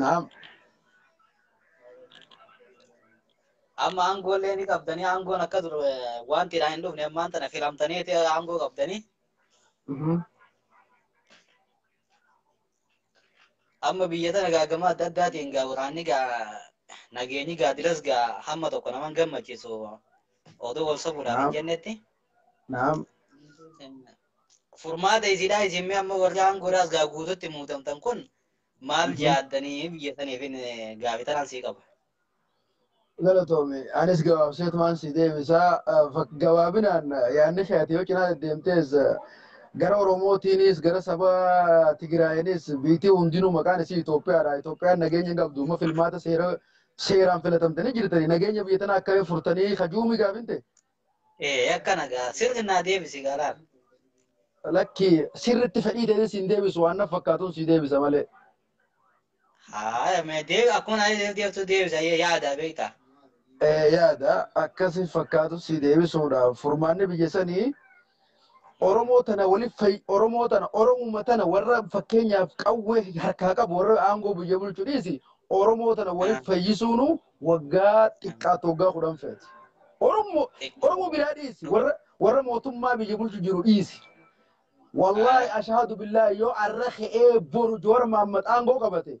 Naam. Amma aangoollee ni qabdanii aangoon akka dur eh, wanti irraa hin dhufne ammaan tana filamtaniiti aangoo qabdanii Mhm. amma biyya tana gaagama adda addaatiin gaa waraanni gaa nageenyi gaadilas gaa hamma tokko naman gammachiisu oduu wal sobuudhaan hin Naam. jennetti Naam. furmaata isiidhaa isin mee amma warri aangoodhaas gaa guututti muudamtan kun Maal Mhm. yaaddanii biyya saniif hin gaafi tanaan sii qaba. Galatoomi. Anis gabaabseetumaan si deebisaa. Eh, fak- Gabaabinaan eh, yaadni kee ati yoo cinaa deddeemtees eh, gara Oromootiinis gara saba Tigraayinis biitii hundinuu maqaan isii Itoophiyaadha. Itoophiyaan nageenya hin qabdu. Amma filmaata seera seeraan filatamtanii jirtanii nageenya biyya tanaa akkamiin furtanii kajuumii gaafinte? Ee akkana gaa sirri naa deebisi gaa laal. Lakki sirritti fedhii ta'ee siin deebisu waan na fakkaatuun sii deebisa malee. Haaya mee deebi akkuma naa deebtu deebisa yaada beektaa. Ee yaada akkasi fakkaatu sii deebisuudhaaf furmaanni biyya sanii Oromoo tana waliif fayi Oromoo tana Oromuma tana warra fakkeenyaaf qawwee harkaa qabu warra aangoo biyya bulchu dhiisi Oromoo tana waliif fayyisuunu waggaa xiqqaatu waggaa kudhan feeti. Oromoo Oromoo biraa dhiisi warra warra mootummaa biyya bulchu jiru dhiisi. Wallaahi ashaadu billaahi yoo arra ka'ee boru Jowaar Mahammad aangoo qabate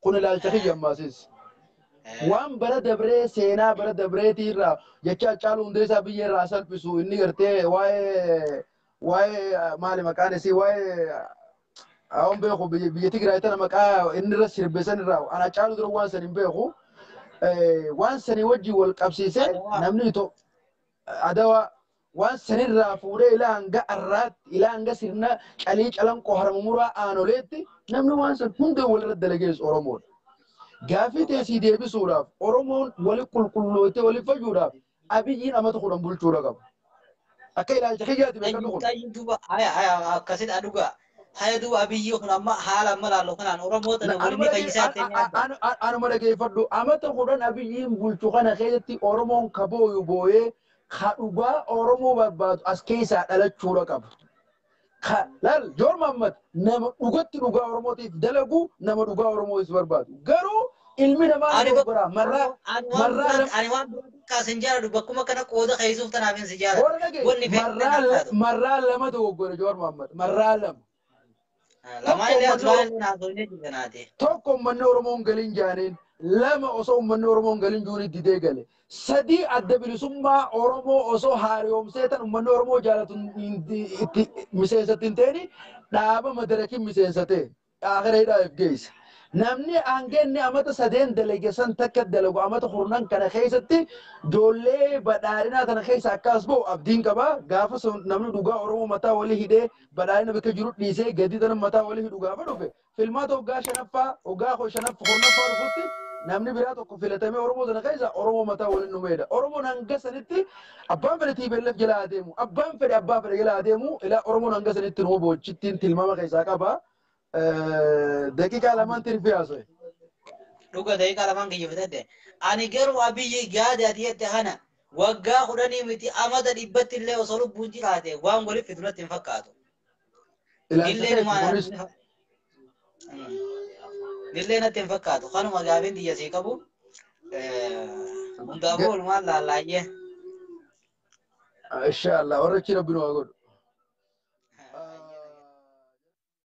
Kun ilaalcha kiyya ammaasiis. Waan bara dabree seenaa bara dabreetii irraa jecha Haccaaluu Hundeessaa biyyee irraa haa salphisu inni gartee waa'ee waa'ee maali maqaan isii waa'ee hawan beeku biyya biyya Tigraay tana maqaa inni irra sirbe san irraa an Haccaaluu dura waan san hin beeku waan sanii wajjin wal qabsiisee Adawaa. namni Itoo Adawaa Waan san irraa fuudhee ila hanga arraatti, ila hanga sirna Calii Calanqoo Haramumuraa Aanoleetti namni waan san hunda wal irratti dalagees Oromoo dha. Gaaffii tee sii deebisuudhaaf Oromoon wali qulqullooytee wali fayyuudhaaf Abiyyiin amata 10 bulchuu irra qaba. Akka ilaalcha kiyyaati beekanni kun. Qayyu duba haya haya akkasidha dhuga haya duba abiyyi kun amma haala amma laallo kanaan oromoo tana wali ni fayyisaa ta'e yaadda. Anuma dhageeffadhu amata kudhan abiyyiin bulchu kana keessatti oromoon ka booyu booyee Ka dhugaa Oromoo barbaadu as keessaa dhalachuudha qaba. Ka laal Joor Mahammad nama dhugatti dhugaa Oromootiif dalagu nama dhugaa Oromootiif barbaadu. Garuu ilmi namaa Ani wa- dogoggoraa marraa ani waan marraa biraa lam- ani waan biraa xiqqaa sin jaaladhu bakkuma kana qooda keessuuf tanaaf hin si jaaladhu. Warra dhagee Wanni fe'e marraa kana la- haatu. marraa lama dogoggore Joor Mahammad marraa lama. Lamaa illee as baay'ee illee naasofnee jirra naati. Tokko uummanni Oromoo hin galin jaaneen lama osoo uummanni Oromoo hin galin juun didee gale. Sadii adda bilisummaa Oromoo osoo haariyoomsee tan uummanni Oromoo jaalatu itti miseensatti hin ta'in dhaaba madarakiin miseensa ta'e akira hidhaa if geesse. Namni hanga inni amata sadeen dalage san takka dalagu amata kurnan kana keessatti ijoollee badhaadhinaa tana keessa akka as ba'u abdiin qaba. Gaafa sun namni dhugaa Oromoo mataa walii hidhee Badhaadhina bakka jiru dhiisee gadii tana mataa wali hidhu gaafa dhufe filmaata waggaa shanaffaa waggaa kudha shanaffa kurnaffaa dhufutti namni biraa tokko filatamee Oromoo tana keessa Oromoo mataa waliin dhumeedha. Oromoon hanga sanitti abbaan fedhe TPLF jala haa deemu abbaan fedhe abbaa fedhe jala haa deemu ilaa Oromoon hanga sanitti numa boochittiin tilmaama keessaa qaba. daqiiqaa lamaan tirfii haasa'e. Dhuga daqiiqaa lamaan kiyya fudhadhe. Ani garuu abiyyi gaade ati jette kana waggaa kudhanii miti amata dhibbatti illee osoo lubbuun jiraate waan waliif fidu natti hin fakkaatu. Illee numaan illee natti hin fakkaatu. Kanuma gaafiin tiyya sii qabu. Hundaafuu walumaan laallaayyee. Inshallah warra achi rabbi nu haa godhu.